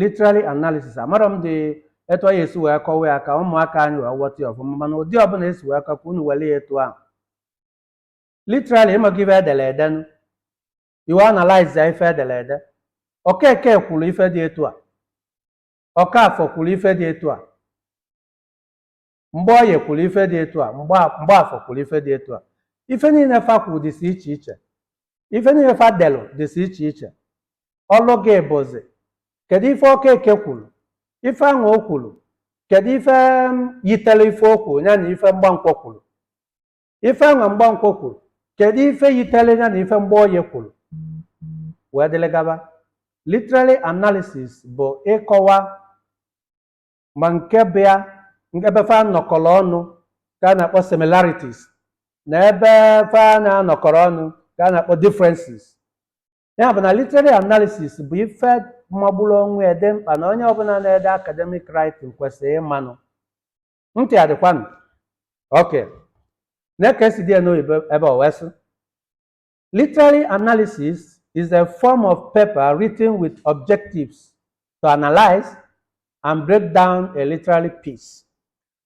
literary analysis amarọ m dị etu anyị esi wee kọwa ya ka ụmụaka anyị wee ghọta ya ọfụma mana ụdị ọbụla esi wee kọwa ka unu were ya etu ahụ literary maka ife edere ede nụ i wee analyze ya ife edere ede Okeke kwuru ife dị etu a Ọkafọ kwuru ife dị etu a Mgboye kwuru ife dị etu a Mgba- Mgbafọ kwuru ife dị etu a ife niile fa kwuru dịsị iche iche ife niile fa delụ dịsị iche iche ọlụ gị bụzi kedu ife Okeke kwuru ife ahụ o kwuru kedu ife m, yitere ife o kwuru ya na ife Mgbankwọ kwuru ife ahụ Mgbankwọ kwuru kedu ife yitere ya na ife Mgboye kwuru wee dịrị gaba literary analysis bụ ịkọwa ma nke bụ ebe fa nọkọrọ ọnụ ka a na-akpọ similarities na ebe fa na-anọkọrọ ọnụ ka a na-akpọ differences ya bụ na literary analysis bụ ife magburu onwe ya dị mkpa na onye ọbụla na-ede academic writing kwesịrị ịmanụ ntị adịkwanụ okay nee ka esi dee ya n'oyibo ebe o wee sị Literary analysis is a form of paper written with objectives to analyze and break down a literary piece.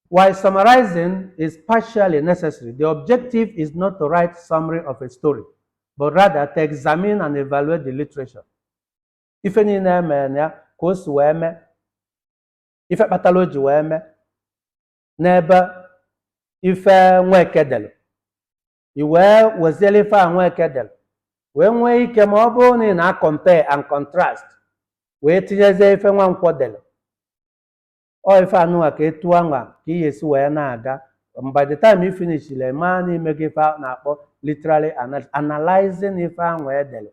While summarizing is partially necessary, the objective is not to write summary of a story, but rather to examine and evaluate the literature. Ife niile emere na ya ka o si wee mee, ife kpatara o ji wee mee n'ebe ife Nweke dere i wee weziere ife a Nweke dere wee nwee ike ma ọ bụrụ na ị na-compare and contrast wee tinyezie ife Nwankwọ dere ọ ife anụwa ka etu anwa ka ị ga-esi wee na-aga Um, by the time you finish i lee maa na i mego ife a na-akpọ literary ana- analyzing ife anwa edere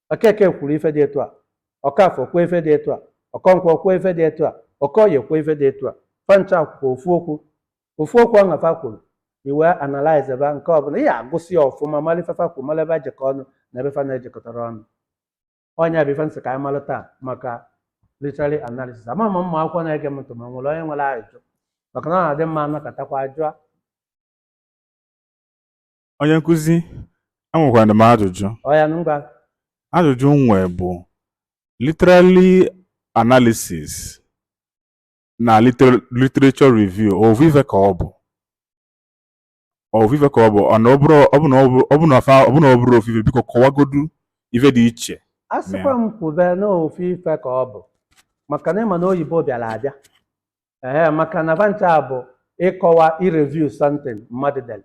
Okeke kwuru ife dị etu a Ọkafọ kwuo ife dị etu a Ọkọnkwọ kwuo ife dị etu a Okoye kwuo ife dị etu a fa ncha kwuo ofu okwu ofu okwu ahụ fa kwuru i wee analyzeba nke ọbụla ị ga-agụsị ya ọfụma mara ife fa kwuru mara ebe fa jekọ ọnụ na ebe fa na-ejekọtara ọnụ ọ nya bụ ife m sị ka anyị mara taa maka literary analysis ama m ma ụmụ akwụkwọ na-ege m ntị ma e nwere onye nwere ajụjụ maka na ọ na-adị mma anọkọtakwa jụọ Onye nkụzi, enwekwara m ajụjụ. Ọya ngwa. Ajụjụ m nwee bụ literary analysis na literature review ovu ife ka ọ bụ ovu ife ka ọ bụ ọ bụ na ọ bụrọ ofu ife biko kọwagodu ife dị iche asịkwa m kwube na ofu ife ka ọ bụ maka na ịma na oyibo bịara abịa ee maka na va ncha a bụ ịkọwa ireview something mmadụ dere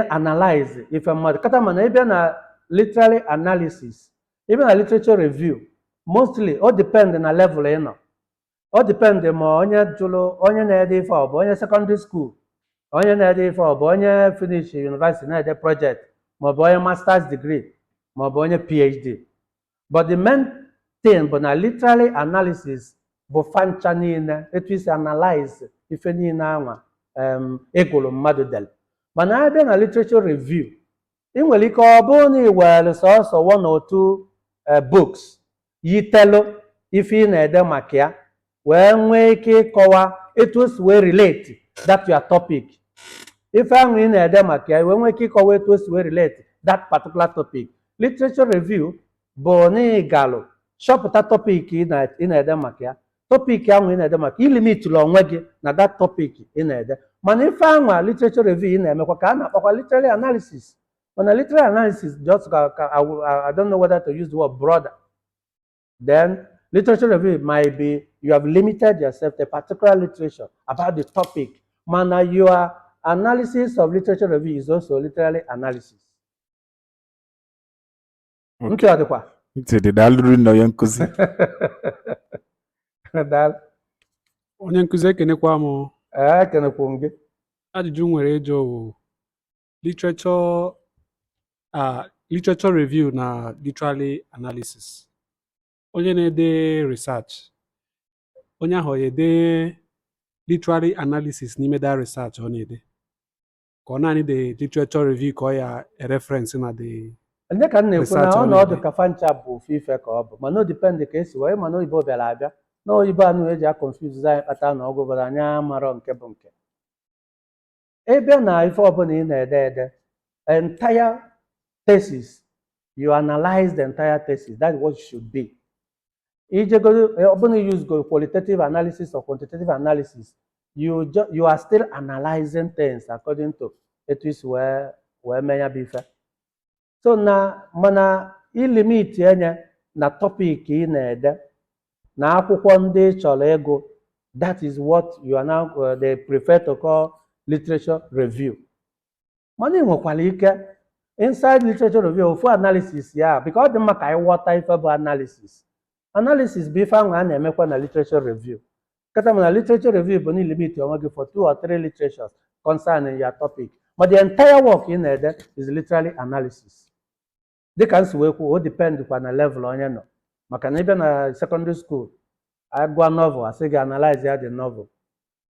analyze ife mmadụ kata mana ị bịa na literary analysis ị bịa na literature review mostly ọ depend na level ị nọ ọ depend ma onye jụrụ onye na-ede ife ọ bụ onye secondary school onye na-ede ife ọ bụ onye finish university na-ede project maọbụ onye masters degree maọbụ onye phd but the main thing bụ na literary analysis bụ fa ncha niile etu i si analyze ife niile anwa em, ị gụrụ mmadụ dere mana a bịa na literature review ị nwere ike ọ bụrụ na ị were sọsọ one or two eh, books yitelu ife ị na-ede maka ya wee nwee ike ịkọwa etu o si wee relate that your topic ife ahụ ị na-ede maka ya wee nwee ike ịkọwa etu o si wee relate that particular topic literature review bụ na ị galụ chọpụta topic ị na- ị na-ede maka ya topic ahụ ị na-ede maka ị limitụla onwe gị na that topic ị na-ede mana ife ahụ a literature review ị na-emekwa ka a na-akpọkwa literary analysis mana literary analysis just ka ka I will- I- I don't know whether to use the word broader then literature review might be you have limited yourself to a particular literature about the topic mana your analysis of literature review is also literary analysis Okay. ntị ọ dịkwa ntị dị daalụ rinne onye nkụzi Daalụ. onye nkụzi ekenekwa m ee ekenekwu m gị ajụjụ m nwere ịjụ bụ literature uh, literature review na literary analysis onye na-ede research onye ahụ ya-ede literary analysis n'ime the research ọ na-ede ka ọ naanị the literature review ka ọ ya-ereference na the ndị ka m na-ekwu na Research ọ na-ede. ọ na-adị ka fa ncha bụ ofu ife ka ọ bụ mana o depend ka e si wee mana oyibo bịara abịa na oyibo a na-eji aconfuse anyị kpata na oge ụfọdụ anyị amarọ nke bụ nke ị bịa na ife ọbụla ị na-ede the entire thesis you analyze the entire thesis that's what it should be ijegoro ọbụna you use go qualitative analysis or quantitative analysis you ju- you are still analyzing things according to etu i si wee wee mee ya bụ ife so na mana i limitie ya na topic ị na-ede na akwụkwọ ndị ị chọrọ ịgụ that is what you are now uh, they prefer to call literature review mana ị nwekwara ike inside literature review ofu analysis ya because ọ dị mma ka anyị ghọta ife bụ analysis analysis bụ ife anwa a na-emekwa na literature review kata ma na literature review bụ na ị limit onwe gị for two or three literatures concerning your topic ma the entire work ị na-ede is literary analysis dịka m si wee kwuo o depend kwa na level onye nọ maka na ị bịa na secondary school a gụọ novel a sị gị analyze ya the novel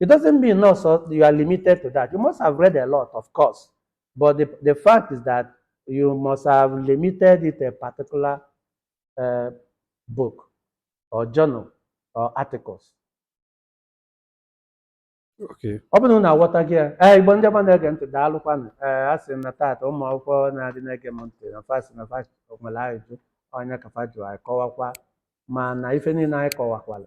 It doesn't mean no, so you are limited to that. You must have read a lot, of course. But the, the fact is that you must have limited it to a particular uh, book or journal or articles. Okay. ọ bụrụ na m ghọta gị ya ee igbo ndị ọma na-ege ntị daalụkwanụ ee a sị na taata ụmụ akwụkwọ na-adị na-ege m ntị na fa sị na fa sị nwere ajụjụ onye ka fa jụrụ anyị kọwakwa ma na ife niile anyị kọwakwara